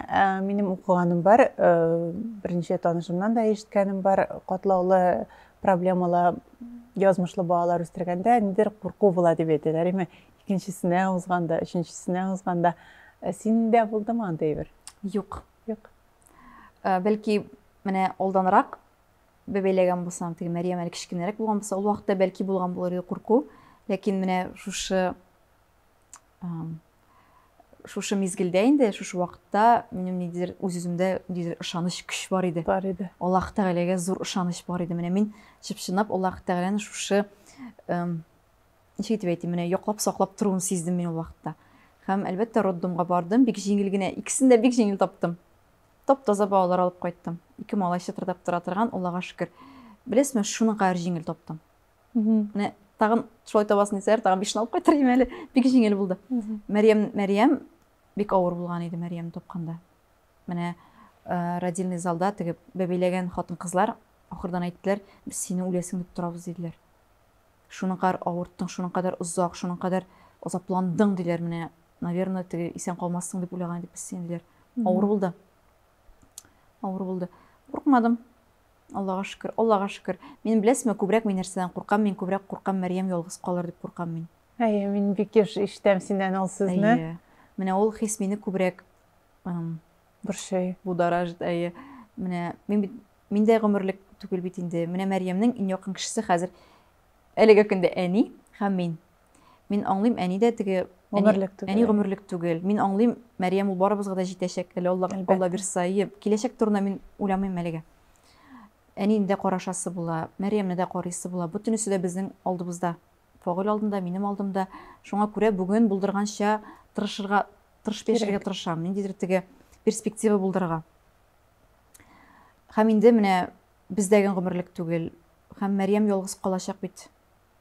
минем укыганым бар, берничә танышымнан да ишеткәнем бар, катлаулы проблемалы язмышлы балалар үстергәндә нидер курку була дип әйтәләр. Әмма Икенчесенә узганда, өченчесенә узганда синдә булдымы андый бер? Юк. Юк. Бәлки менә алданрак бәбәйләгән булсам, теге Мәриям әле кечкенәрәк булган булса, ул вакытта бәлки булган булыр иде курку. Ләкин менә шушы шушы мизгелдә инде шушы вакытта минем ниндидер үз үземдә ниндидер ышаныч көч бар иде бар иде аллаһ тәгаләгә зур ышаныч бар иде менә мин чып чынлап аллаһ тәгаләне шушы Ничек итеп әйтим, менә яклап, саклап торуын сиздем мин ул вакытта. Һәм, әлбәттә, роддомга бардым, бик җиңел генә, икесен дә бик җиңел таптым. Тап-таза балалар алып кайттым. Ике малай чытырдап тора торган, Аллага шөкер. Беләсезме, шуның кадәр җиңел таптым. Менә тагын шулай табасың дисәләр, тагын бишне алып кайтыр идем әле. Бик җиңел булды. Мәрьям, Мәрьям бик авыр булган иде Мәрьямне тапканда. Менә э, родильный залда теге бәбиләгән хатын-кызлар ахырдан әйттеләр, без сине үләсең дип торабыз диделәр. Шуның кадәр авырттың, шуның кадәр озак, шуның кадәр азапландың, диләр, менә, наверное, теге исән калмассың дип уйлаган идек без сине, диләр. Авыр булды. Авыр булды. Куркмадым. Аллага шөкер, Аллага шөкер. Мин беләсезме, күбрәк мин нәрсәдән куркам? Мин күбрәк куркам, Мәрьям ялгыз калыр дип куркам мин. Әйе, мин бик еш ишетәм синнән ул сүзне. Әйе. Менә ул хис мине күбрәк Борчый. Будоражит, әйе. Менә мин бит миндә гомерлек түгел бит инде. Менә Мәрьямнең иң якын кешесе хәзер әлеге көндә әни һәм мин. Мин аңлыйм, әни дә теге гомерлек түгел. Әни гомерлек түгел. Мин аңлыйм, Мәрьям ул барыбызга да җитәчәк. Әле Алла Алла бирса, киләчәк турында мин уйламыйм әлегә. Әнине дә карашасы була, Мәрьямне дә карыйсы була. Бөтенесе дә безнең алдыбызда. Фагыйль алдында, минем алдымда. Шуңа күрә бүген булдырганча тырышырга, тырышып яшәргә тырышам. Ниндидер теге перспектива булдырырга. Һәм инде менә бездәген гомерлек түгел. Һәм Мәриям ялгыз калачак бит.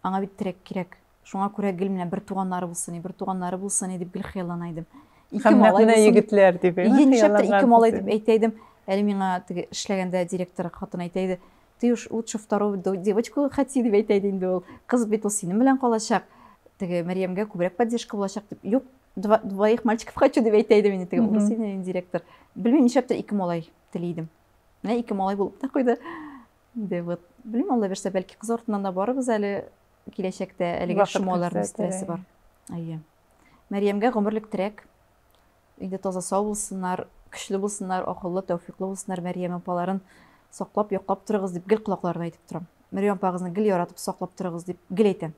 Аңа бит терәк кирәк. Шуңа күрә гел менә бер туганнары булсын, бер туганнары булсын дип гел хыяллана идем. Ике малай булсын. егетләр дип. Нишләптер ике малай дип әйтә идем. Әле миңа теге эшләгәндә директор хатын әйтә иде. Ты уж лучше вторую девочку хоти, дип әйтә иде инде ул. Кыз бит ул синең белән калачак. Теге Мәрьямгә күбрәк поддержка булачак дип. Юк, двоих мальчиков хочу дип әйтә иде мин теге управление директор. Белмим, нишләптер ике малай тели идем. Менә ике малай булып та куйды. Инде вот, белмим, Алла бирсә, бәлки кыз артыннан да барыбыз әле киләчәктә әлеге шомаларның стрессы бар. Әйе. Мәрьямгә гомерлек терәк. Өйдә таза сау булсыннар, көчле булсыннар, акыллы, тәүфиклы булсыннар, Мәрьям апаларын саклап, яклап торыгыз дип гел колакларына әйтеп торам. Мәрьям апагызны гел яратып, саклап торыгыз дип гел әйтәм.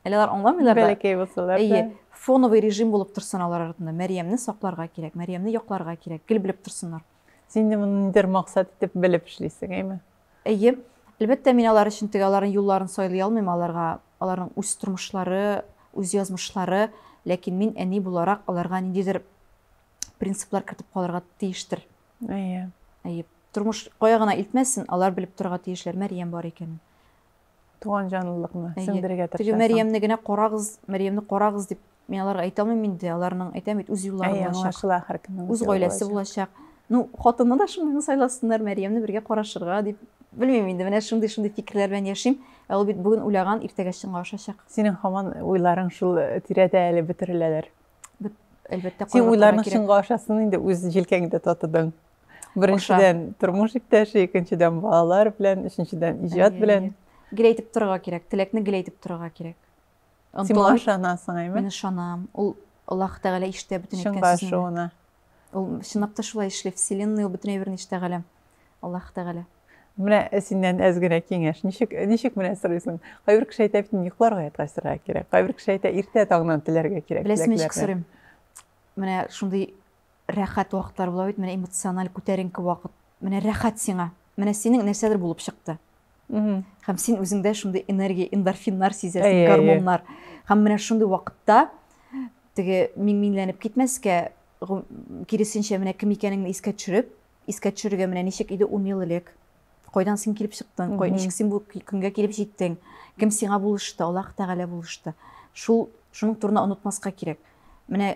Әле алар аңламыйлар да. Бәләкәй булсалар да. Әйе, фоновый режим булып торсын алар артында. Мәрьямне сакларга кирәк, Мәрьямне якларга кирәк, гел белеп торсыннар. Син дә моны нидер максат итеп белеп эшлисең, әйме? Әйе, әлбәттә, мин алар өчен теге аларның юлларын сайлый алмыйм, аларга аларның үз тормышлары, үз язмышлары, ләкин мин әни буларак аларга ниндидер принциплар кертеп калырга тиештер. Әйе. Әйе. Тормыш кая гына илтмәсен, алар белеп торырга тиешләр Мәрьям бар икәнен. Туган җанлылыкны сеңдерергә тырышасың. Теге Мәриямне генә карагыз, Мәриямне карагыз дип мин аларга әйтә алмыйм инде, аларның әйтәм бит үз юллары булачак. Аңлашыла һәркемнең үз гаиләсе булачак. Ну, хатынны да шундыйны сайласыннар, Мәриямне бергә карашырга дип. Белмим инде, менә шундый-шундый фикерләр белән яшим. Ә ул бит бүген уйлаган, иртәгә чынга ашачак. Синең хаман уйларың шул тирәдә әле бөтереләләр. әлбәттә син уйларның чынга ашасын инде үз җилкәңдә татыдың беренчедән тормыш иптәше икенчедән балалар белән өченчедән иҗат белән гел әйтеп торырга кирәк теләкне гел әйтеп торырга кирәк син моңа ышанасың әйме мин ышанам ул аллаһ тәгалә ишетә бөтен әйткән сүзеңне Ул чынлап та шулай эшли, вселенная ул бөтенләй бер нечто галәм. Аллаһ Тәгалә. Менә синнән әз генә киңәш. Ничек ничек менә сорыйсың? Кайбер кеше әйтә бит, йокларга ятасырга кирәк. Кайбер кеше әйтә, иртә таңнан теләргә кирәк. Беләсең, ничек сорыйм? Менә шундый рәхәт вакытлар була бит, менә эмоциональ күтәренке вакыт. Менә рәхәт сиңа. Менә синең нәрсәдер булып чыкты. һәм син үзеңдә шундый энергия эндорфиннар сизәсең гормоннар һәм менә шундый вакытта теге миңмиңләнеп китмәскә киресенчә менә кем икәнеңне искә төшереп искә төшерергә менә ничек иде ун ел элек кайдан син килеп чыктың кай ничек син бу көнгә килеп җиттең кем сиңа булышты аллаһ тәгалә булышты шул шуның турына онытмаска кирәк менә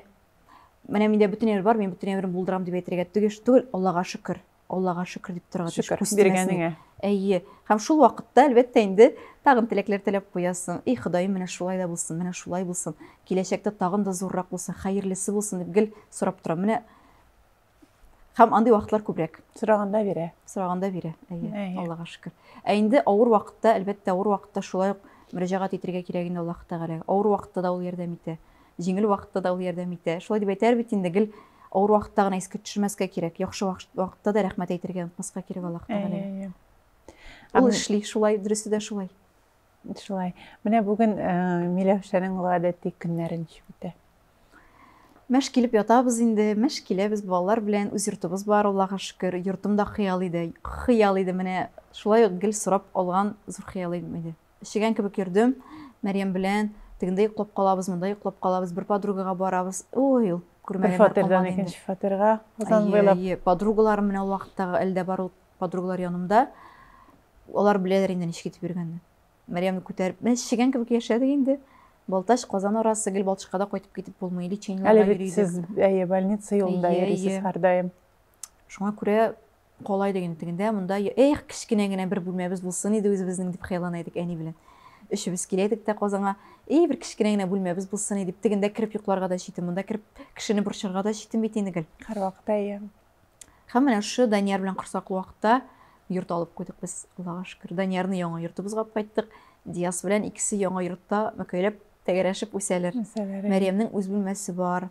менә миндә бөтен әмер бар мин бөтен әмерен булдырам дип әйтергә түгел аллага шөкер Аллага шөкер дип торырга тиеш. Шөкер, биргәнеңә. Әйе. Һәм шул вакытта, әлбәттә, инде тагын теләкләр теләп куясың. И, Ходаем, менә шулай да булсын, менә шулай булсын. Киләчәктә тагын да зуррак булсын, хәерлесе булсын дип гел сорап торам. Менә Һәм андый вакытлар күбрәк. Сораганда бирә. Сораганда бирә. Әйе. Аллага шөкер. Ә инде авыр вакытта, әлбәттә, авыр вакытта шулай ук мөрәҗәгать итәргә кирәк инде Аллаһ Тәгаләгә. Авыр вакытта да ул ярдәм итә. Җиңел вакытта да ул ярдәм итә. Шулай дип әйтәр бит инде, гел авыр вакытта гына искә төшермәскә кирәк. Яхшы вакытта да рәхмәт әйтергә онытмаска кирәк Аллаһ Тәгаләгә. Ул эшли шулай, дөресе дә шулай. Шулай. Менә бүген э, Миләүшәнең гадәти көннәре ничек үтә? Мәш килеп ятабыз инде, мәш киләбез балалар белән, үз йортыбыз бар, Аллаһка шөкер. Йортым да хыял иде, хыял иде. Менә шулай ук гел сорап алган зур хыялым иде. Эчегән кебек йөрдем Мәрьям белән. Тегендә йоклап калабыз, монда йоклап калабыз, бер подругага барабыз. Ой, ул күрмәгәннәр калмады инде. Бер фатирдан икенче фатирга узан буйлап. Әйе, әйе. Подругаларым менә ул вакыттагы әле дә бар ул подругалар янымда. Алар беләләр инде ничек итеп йөргәнне. Мәрьямне күтәреп, менә эчегән кебек яшәдек инде. Балтач, Казан арасы, гел Балтачка да кайтып китеп булмый. Лечениеләргә йөри идек. Әле бит сез, әйе, больница юлында йөрисез һәрдаим. Шуңа күрә Кала идек инде тегендә, монда, эх, кечкенә генә бер бүлмәбез булсын иде үзебезнең, дип хыяллана идек әни белән. Өчебез килә идек тә Казанга, и, бер кечкенә генә бүлмәбез булсын иде, тегендә кереп йокларга да читен, монда кереп кешене борчырга да читен бит инде гел. Һәрвакытта әйе. Һәм менә шушы Данияр белән корсаклы вакытта йорт алып куйдык без, Аллага шөкер. Даниярны яңа йортыбызга алып кайттык. Дияс белән икесе яңа йортта мәкәйләп, тәгәрәшеп үсәләр. Мәриямнең үз бүлмәсе бар,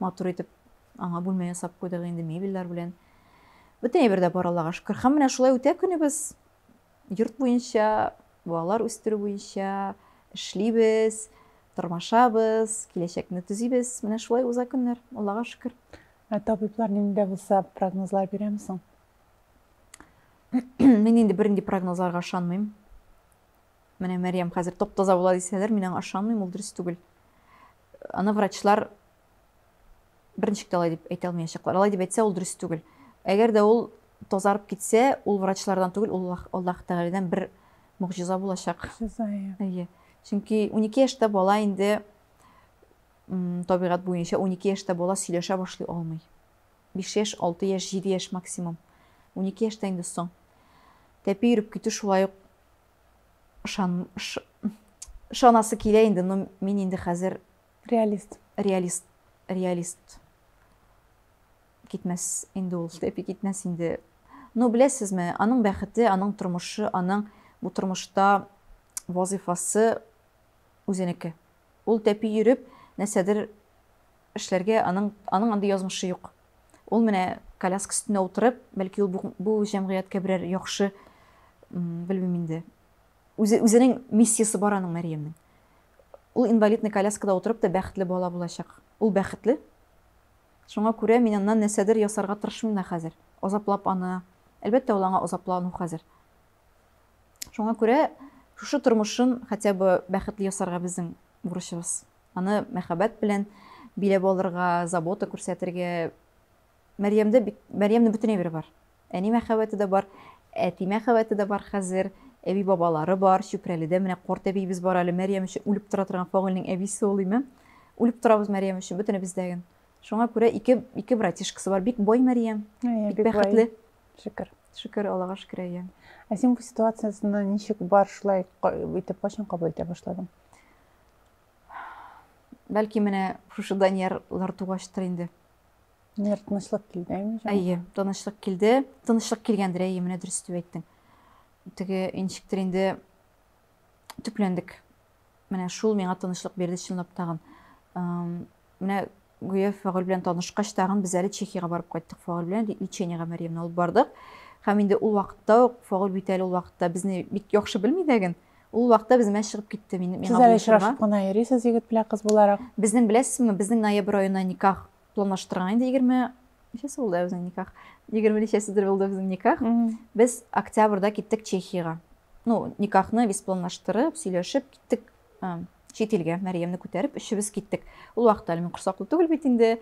матур итеп. Аңа бүлмә ясап куйдык инде мебельләр белән. Бөтен әйбер дә бар Аллага шөкер. Һәм менә шулай үтә көнебез. Йорт буенча, балалар үстерү буенча эшлибез, тормашабыз, киләчәкне төзибез. Менә шулай уза көннәр. Аллага шөкер. Ә табиблар нинди дә булса прогнозлар бирәме соң? Мин инде бернинди прогнозларга ышанмыйм. Менә Мәриям хәзер топ-таза була дисәләр, мин аңа ышанмыйм, ул дөрес түгел. Аны врачлар Берничек тә алай дип әйтә алмаячаклар. Алай дип әйтсә, ул дөрес түгел. Әгәр дә ул тазарып китсә, ул врачлардан түгел, ул Аллаһ Тәгаләдән бер могҗиза булачак. Могҗиза. Әйе. Чөнки 12 яшьтә бала инде табигать буенча 12 яшьтә бала сөйләшә башлый алмый. 5 яшь, 6 яшь, 7 яшь максимум. 12 яшьтә инде соң. Тәпи йөреп китү шулай ук ышан, ышанасы килә инде, но мин инде хәзер Реалист. Реалист. Реалист. Китмәс инде ул, тәпи китмәс инде. Но беләсезме, аның бәхете, аның тормышы, аның бу тормышта вазифасы үзенеке. Ул тәпи йөреп, нәрсәдер эшләргә аның, аның андый язмышы юк. Ул менә коляска өстенә утырып, бәлки ул бу, бу җәмгыятькә берәр яхшы, белмим инде, Үзе, үзенең миссиясе бар аның, Мәрьямнең. Ул инвалидный коляскада утырып та бәхетле бала булачак. Ул бәхетле. Шуңа күрә мин аннан нәрсәдер ясарга тырышмыйм да хәзер. Азаплап аны. Әлбәттә, ул аңа азаплану хәзер. Шуңа күрә шушы тормышын хотя бы бәхетле ясарга безнең бурычыбыз. Аны мәхәббәт белән биләп алырга, забота күрсәтергә. Мәрьямдә бит, Мәрьямнең бөтен әйбере бар. Әни мәхәббәте дә бар, әти мәхәббәте дә бар хәзер, әби-бабалары бар, Чүпрәледә менә картәбиебез бар әле, Мәрьям өчен үлеп тора торган Фагыйльнең әбисе ул, име. Үлеп торабыз Мәрьям өчен, бөтенебез дә гел. Шуңа күрә ике, ике братишкасы бар, бик бай Мәрьям, Әйе, бик бик бай. бәхетле. Шөкер. Шөкер, Аллага шөкер, әйе. Ә син бу ситуациясенә ничек бар шулай ка- итеп кайчан кабул итә башладың? Бәлки менә шушы Даниярлар тугачтыр инде. Нер тынычлык килде, әйме? Әйе, тынычлык килде. Тынычлык килгәндер, әйе, менә дөрес дип әйттең. Теге инчектер инде төпләндек. Менә шул миңа тынычлык бирде чынлап тагын. Менә гүя Фагыл белән танышкач тагын без әле Чехиягә барып кайттык Фагыл белән лечениегә Мәриямне алып бардык. Һәм инде ул вакытта ук Фагыл бит әле ул вакытта безне бик яхшы белми дә ген. Ул вакытта без мәш чыгып китте мин миңа. Сез әле очрашып кына йөрисез егет белән кыз буларак. Безнең беләсезме, безнең ноябрь аена никах планлаштырган инде 20 ничәсе булды безнең никах? 20 ничәседер булды безнең никах. Без октябрьдә киттек Чехиягә. Ну, никахны без планлаштырып, сөйләшеп киттек чит илгә. Мәриямне күтәреп, өчебез киттек. Ул вакытта әле мин корсаклы түгел бит инде.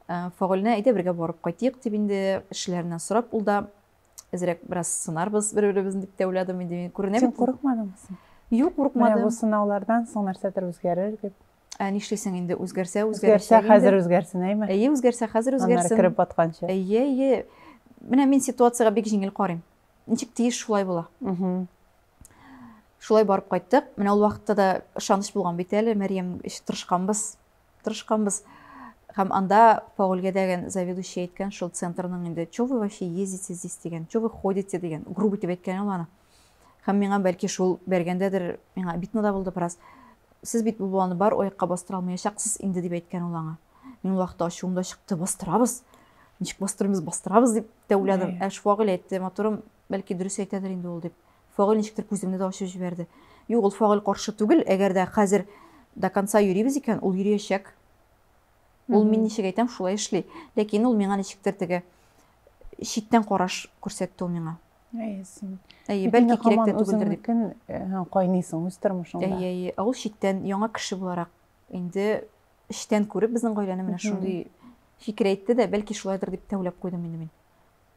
Фагыльне әйдә бергә барып кайтыйк дип инде эшләреннән сорап ул да әзерәк бераз сынарбыз бер беребезне дип тә уйладым инде мин күренә син курыкмадыңмы соң юк курыкмадым бу сынаулардан соң нәрсәдер үзгәрер дип ә нишлисең инде үзгәрсә үзгәрсә хәзер үзгәрсен әйме әйе үзгәрсә хәзер үзгәрсен аннары кереп батканчы әйе әйе менә мин ситуацияга бик җиңел карыйм ничек тиеш шулай була шулай барып кайттык менә ул вакытта да ышаныч булган бит әле мәриям тырышканбыз тырышканбыз. Һәм анда Фаулгә дәгән заведующий әйткән шул центрның инде, чё вы вообще ездите здесь дигән, чё вы ходите дигән, грубо итеп әйткән ул аны. Һәм миңа бәлки шул бәргәндәдер, миңа обидно да булды бераз. Сез бит бу баланы бар оякка бастыра алмаячаксыз инде дип әйткән ул аңа. Мин ул вакытта ачуым да чыкты, бастырабыз. Ничек бастырмыйбыз, бастырабыз дип тәүләдем. Ә Фауль әйтте, матурым, бәлки дөрес әйтәдер инде ул дип. Фагыйль ничектер күземне дә ачып җибәрде. Юк, ул Фагыйль каршы түгел, әгәр дә хәзер до конца йөрибез икән, ул йөриячәк. Ул мин ничек әйтәм, шулай эшли. Ләкин ул миңа ничектер теге читтән караш күрсәтте ул миңа. Әйе, син. Әйе, бәлки кирәк тә түгелдер дип. Э, кайныйсың үз тормышыңда. Әйе, әйе. Ә ул читтән яңа кеше буларак инде эштән күреп безнең гаиләне менә шундый фикер әйтте дә, бәлки шулайдыр дип тәүләп куйдым инде мин.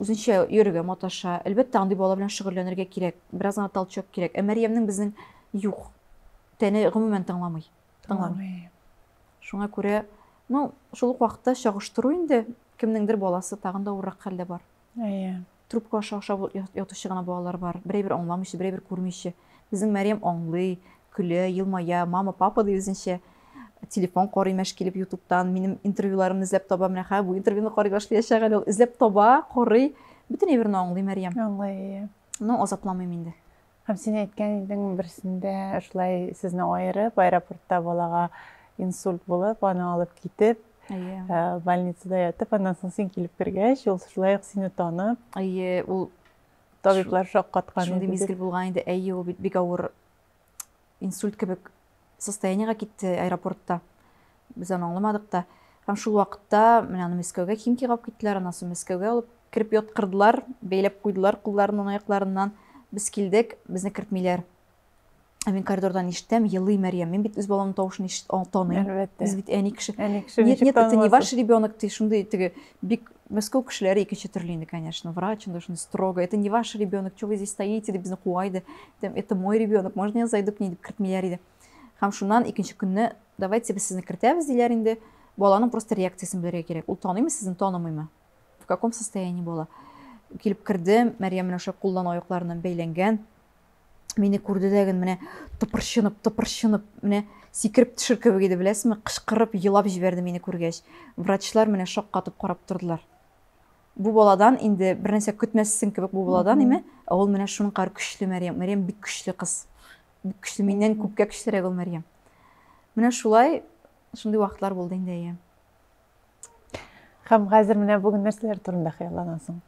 үзенчә йөрергә маташа. Әлбәттә, андый бала белән шөгыльләнергә кирәк, бераз гына толчок кирәк. Ә Мәрьямнең безнең юк. Тәне гомумән тыңламый. Тыңламый. Шуңа күрә, ну, шул ук вакытта чагыштыру инде, кемнеңдер баласы тагын да авыррак хәлдә бар. Әйе. Трубка аша ашап ятучы гына балалар бар, берәйбер аңламыйча, берәйбер күрмичә. Безнең Мәрьям аңлый, көлә, елмая, мама, папа ди үзенчә. Телефон карый мәш килеп ютубтан, минем интервьюларымны эзләп таба, менә хәзер бу интервьюны карый башлаячак әле ул. Эзләп таба, карый, бөтен әйберне аңлый Мәрьям. Аңлый, әйе. Ну, азапламыйм инде. Һәм син әйткән идең, берсендә шулай сезне аерып, аэропортта балага инсульт булып, аны алып китеп, әйе. Э, больницада ятып, аннан соң син килеп кергәч, ул шулай ук сине танып. Әйе, ул Табиблар шаккаткан. Шундый мизгел булган инде, әйе, ул бит бик авыр инсульт кебек состояниега китте аэропортта. Без аны аңламадык та. Һәм шул вакытта менә аны Мәскәүгә Химкига алып киттеләр, аннан соң Мәскәүгә алып кереп яткырдылар, бәйләп куйдылар кулларыннан, аякларыннан. Без килдек, безне кертмиләр. Ә мин коридордан ишетәм, елый Мәрьям. Мин бит үз баламның тавышын ишет, таныйм. Әлбәттә. Без бит әни кеше. Әни кеше нет, нет, это не ваш ребенок, ты шундый теге бик Мәскәү кешеләре икенче төрле инде, конечно. Врач инде шундый строго. Это не ваш ребенок, что вы здесь стоите, дип безне куа иде. Это мой ребенок, можно я зайду к ней дип кертмиләр иде. Һәм шуннан икенче көнне давайте без сезне кертәбез диләр инде. Баланың просто реакциясен белергә кирәк. Ул таныймы сезне, танымыймы? В каком состоянии бала? Килеп кердем, Мәрьям менә шулай куллан аякларыннан бәйләнгән. мине күрде дә генә менә тыпырчынып тыпырчынып менә сикереп төшер кебек иде беләсезме кычкырып елап җибәрде мине күргәч врачлар менә шаккатып карап тордылар бу баладан инде бернәрсә көтмәссең кебек бу баладан име ә ул менә шуның кадәр көчле мәрьям мәрьям бик көчле кыз бик көчле миннән күпкә көчлерәк ул мәрьям менә шулай шундый вакытлар булды инде әйе һәм хәзер менә бүген нәрсәләр турында хыялланасың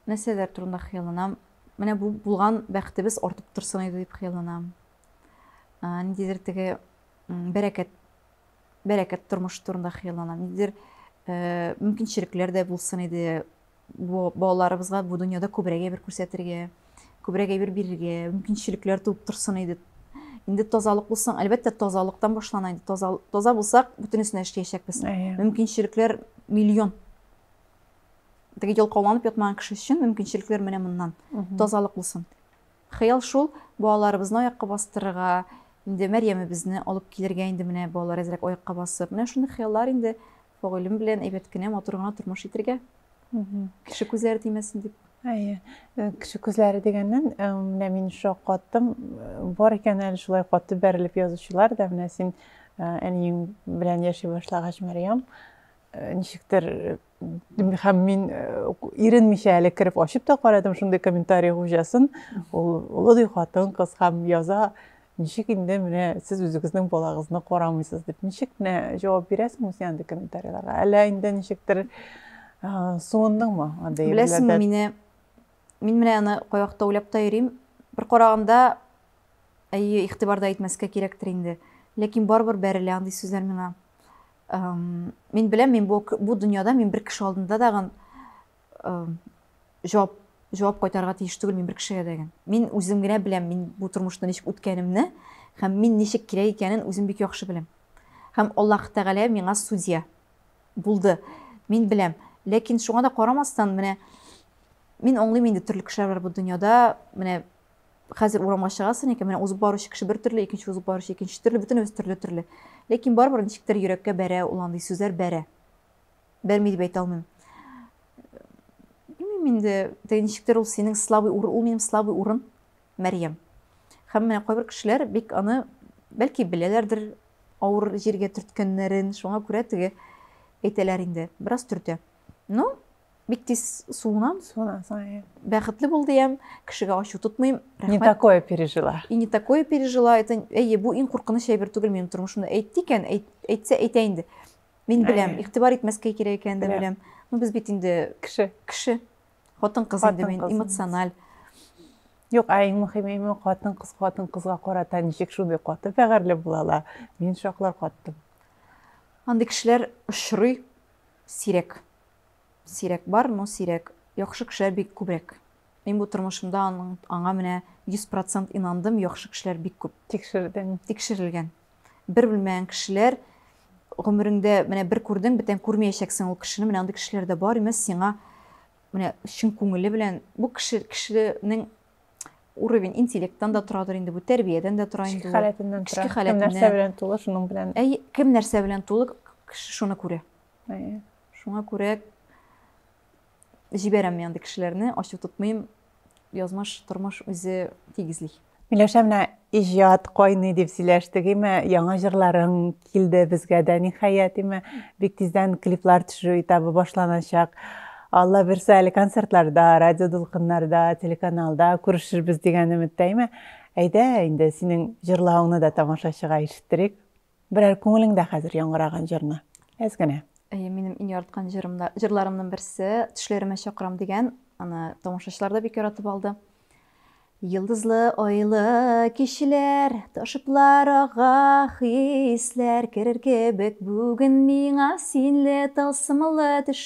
нәрсәләр турында хыялланам менә бу булган бәхетебез артып торсын иде дип хыялланам ниндидер теге бәрәкәт бәрәкәт тормыш турында хыялланам ниндидер э, мөмкинчелекләр дә булсын иде бу балаларыбызга бу дөньяда күбрәк әйбер күрсәтергә күбрәк әйбер бирергә мөмкинчелекләр туып торсын иде инде тазалык булсаң әлбәттә тазалыктан башлана инде таза, таза булсак бөтенесен эшләячәкбез мөмкинчелекләр миллион Теге ялкауланып ятмаган кеше өчен мөмкинчелекләр менә моннан. Тазалык булсын. Хыял шул, балаларыбызны аякка бастырырга, инде Мәрьямебезне алып килергә инде менә балалар әзрәк аякка басып. Менә шундый хыяллар инде Фагыйлем белән әйбәт кенә, матур гына тормыш итергә. Кеше күзләре тимәсен дип. Әйе. Э, кеше күзләре дигәннән, э, менә мин шушы каттым. Э, бар икән әле шулай катты бәрелеп язучылар да, менә син әниең белән яши башлагач, Мәрьям, Э, ничектер э, һәм мин э, иренмичә әле кереп ачып та карадым шундый комментарий хуҗасын ул олы хатын кыз һәм яза ничек инде менә сез үзегезнең балагызны карамыйсыз дип ничек менә җавап бирәсең үзеңә андый комментарийларга әллә инде ничектер суындыңмы андый беләсеңме мине мин менә аны кайвакытта уйлап та йөрим бер караганда әйе игътибарда итмәскә кирәктер инде ләкин барыбер бәрелә андый сүзләр миңа Мин беләм, мин бу, бу дөньяда мин бер кеше алдында дагын җавап җавап кайтарырга тиеш түгел мин бер кешегә дәген. Мин үзем генә беләм, мин бу тормышны ничек үткәнемне һәм мин ничек кирәк икәнен үзем бик яхшы беләм. Һәм Аллаһ Тәгалә миңа судья булды. Мин беләм. Ләкин шуңа да карамастан, менә мин аңлыйм инде төрле кешеләр бар бу дөньяда, менә хәзер урамга чыгасың икән, менә узып баручы кеше бер төрле, икенче узып баручы икенче төрле, бөтенебез төрле-төрле. Ләкин барыбер ничектер йөрәккә бәрә ул андый сүзләр бәрә. Бәрми дип әйтә алмыйм. Белмим инде, теге ничектер ул синең слабый урын, ул минем слабый урын, Мәрьям. Һәм менә кайбер кешеләр бик аны бәлки беләләрдер, авыр җиргә төрткәннәрен, шуңа күрә теге әйтәләр инде, бераз төртә. Ну, Бик тиз суынам. Суынасың, иә. Бәхетле бол диям, кешегә ачу тотмыйм. Не такое пережила. И не такое пережила. Это, әйе, бу иң куркыныч әйбер түгел минем тормышымда. Әйтте икән, әйтсә әйтә инде. Мин беләм, игътибар итмәскә кирәк икәнен дә беләм. Ну без бит инде кеше. Кеше. Хатын кыз инде мин эмоциональ. Юк, ә иң мөһиме име хатын кыз хатын кызга карата ничек шундый каты бәгәрьле булалар. Мин шаклар каттым. Андый кешеләр очрый сирәк. Сирәк бар, но сирәк. Яхшы кешеләр бик күбрәк. Мин бу тормышымда аның, аңа менә 100 процент инандым, яхшы кешеләр бик күп. Тикшердең. Тикшерелгән. Бер белмәгән кешеләр, гомереңдә менә бер күрдең, бетән күрмәячәксең ул кешене, менә андый кешеләр дә бар, имәс, сиңа менә чын күңеле белән, бу кеше, кешенең уровень интеллектан да торадыр инде бу, тәрбиядән дә тора инде ул. Эчке халәтеннән тора. Эчке халәтеннән. Кем нәрсә белән тулы, шуның белән. Әй, кем нәрсә белән тулы, кеше шуны күрә. Әйе. Шуңа күрә җибәрәм мин андый кешеләрне, ачу тотмыйм. Язмыш, тормыш үзе тигезли. Миләүшә, менә иҗат кайный дип сөйләштек, име, яңа җырларың килде безгә дә, ниһаять, име, бик тиздән клиплар төшерү этабы башланачак. Алла бирсә, әле концертларда, радио дулкыннарда, телеканалда күрешербез дигән өметтә, име. Әйдә инде, синең җырлавыңны да тамашачыга ишеттерик. Берәр күңелеңдә хәзер яңгыраган җырны, әз генә. Әйе, минем иң яраткан җырым да, җырларымның берсе Төшләремә чакырам дигән, аны тамашачылар да бик яратып алды. Йылдызлы айлы кичләр, ташыплар ага хисләр, керер кебек бүген миңа синле тылсымлы төш.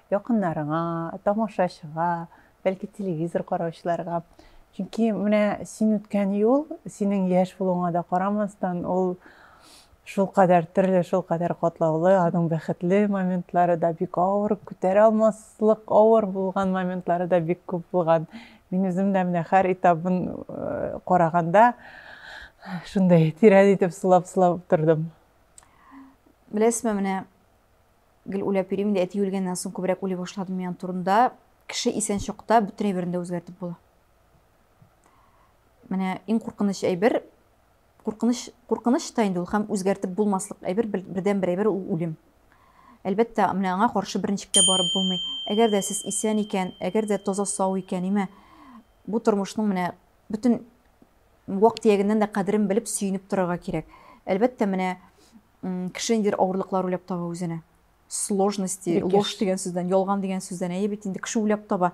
якыннарыңа, тамашачыга, бәлки телевизор караучыларга. Чөнки менә син үткән юл, синең яшь булуыңа да карамастан, ул шулкадәр төрле, шулкадәр катлаулы, аның бәхетле моментлары да бик авыр, күтәрә алмаслык авыр булган моментлары да бик күп булган. Мин үзем дә менә һәр этабын э, караганда шундай тирән итеп сулап-сулап тордым. Беләсезме, менә Гел уйлап йөрим инде, әти үлгәннән соң күбрәк уйлый башладым мин турында. Кеше исән чакта бөтен әйберен дә үзгәртеп була. Менә иң куркыныч әйбер, куркыныч, куркыныч та инде ул һәм үзгәртеп булмаслык әйбер, бердән бер әйбер ул үлем. Әлбәттә, менә аңа каршы берничек тә барып булмый. Әгәр дә сез исән икән, әгәр дә таза сау икән, имә бу тормышның менә бөтен вак-төягеннән дә кадерен белеп сөенеп торырга кирәк. Әлбәттә, менә Кеше ниндидер авырлыклар уйлап таба үзенә. Сложности, ложь дигән сүздән, ялган дигән сүздән. Әйе бит инде, кеше уйлап таба.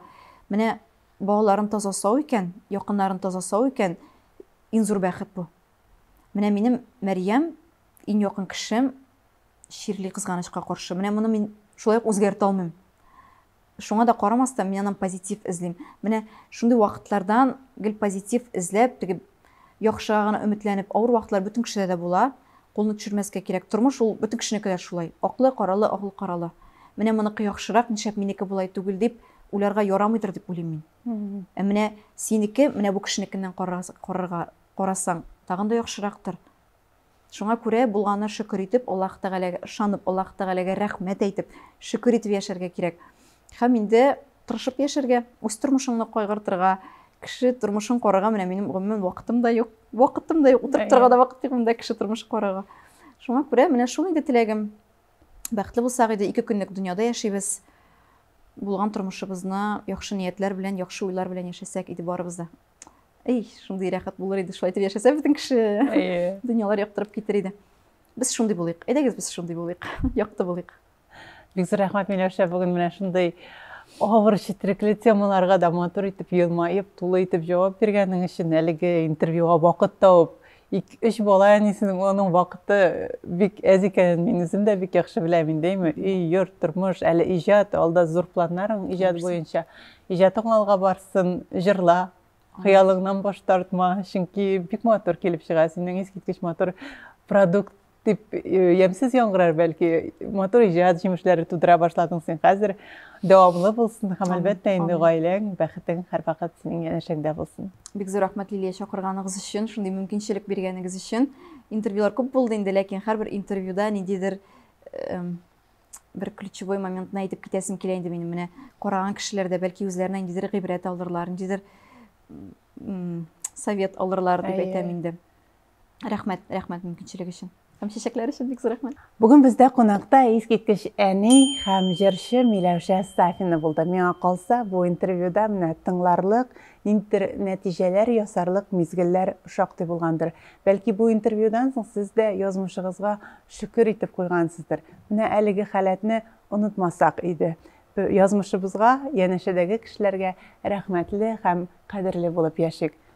Менә балаларын таза сау икән, якыннарын таза сау икән, иң зур бәхет бу. Менә минем Мәрьям, иң якын кешем, чирли кызганычка каршы. Менә моны мин шулай ук үзгәртә алмыйм. Шуңа да карамастан, мин аннан позитив эзлим. Менә шундый вакытлардан гел позитив эзләп, теге яхшыга гына өметләнеп, авыр вакытлар бөтен кешедә дә була. Кулны төшермәскә кирәк. Тормыш ул бөтен кешенеке дә шулай. Аклы, каралы, аклы, каралы. Менә моныкы яхшырак, нишләп минеке болай түгел дип, уйларга ярамыйдыр дип уйлыйм мин. Ә менә синеке, менә бу кешенекеннән карарга, карасаң, тагын да яхшырактыр. Шуңа күрә, булганына шөкер итеп, Аллаһ Тәгаләгә ышанып, Аллаһ Тәгаләгә рәхмәт әйтеп, шөкер итеп яшәргә кирәк. Һәм инде тырышып яшәргә, үз тормышыңны кайгыртырга, кеше тормышын карарга менә минем гомумән вакытым да юк. Вакытым да юк, утырып торырга да вакыт юк монда кеше тормышын карарга. Шуңа күрә менә шул инде теләгем. Бәхетле булсак иде, ике көнлек дөньяда яшибез. Булган тормышыбызны яхшы ниятләр белән, яхшы уйлар белән яшәсәк иде барыбыз да. әй шундый рәхәт булыр иде шулай итеп яшәсә бөтен кеше дөньялар яктырып китер иде без шундый булыйк әйдәгез без шундый булыйк якты булыйк бик зур рәхмәт миләүшә бүген менә шундый авыр четерекле темаларга да матур итеп елмаеп тулы итеп җавап биргәнең өчен әлеге интервьюга вакыт табып Ике-өч бала әнисенең аның вакыты бик әз икәнен мин үзем дә бик яхшы беләм инде, әйме, өй, йорт, тормыш, әле иҗат, алда зур планнарың иҗат буенча. Иҗатың алга барсын, җырла, хыялыңнан баш тартма, чөнки бик матур килеп чыга, синең искиткеч матур продукт. дип ямьсез яңгырар, бәлки матур иҗат җимешләре тудыра башладың син хәзер. Дәвамлы булсын һәм әлбәттә инде гаиләң, бәхетең һәрвакыт синең янәшәңдә булсын. Бик зур рәхмәт Лилия чакырганыгыз өчен, шундый мөмкинчелек биргәнегез өчен. Интервьюлар күп булды инде, ләкин һәрбер интервьюда ниндидер бер ключевой моментны әйтеп китәсем килә инде минем менә караган кешеләр дә бәлки үзләренә ниндидер гыйбрәт алырлар, ниндидер совет алырлар дип әйтәм инде. Рәхмәт, рәхмәт мөмкинчелек өчен. Һәм чәчәкләр өчен бик зур рәхмәт. Бүген бездә кунакта искиткеч әни һәм җырчы Миләүшә Сафина булды. Миңа калса, бу интервьюда менә тыңларлык, ниндидер нәтиҗәләр ясарлык мизгелләр шактый булгандыр. Бәлки бу интервьюдан соң сез дә язмышыгызга шөкер итеп куйгансыздыр. Менә әлеге халәтне онытмасак иде. Язмышыбызга, янәшәдәге кешеләргә рәхмәтле һәм кадерле булып яшик.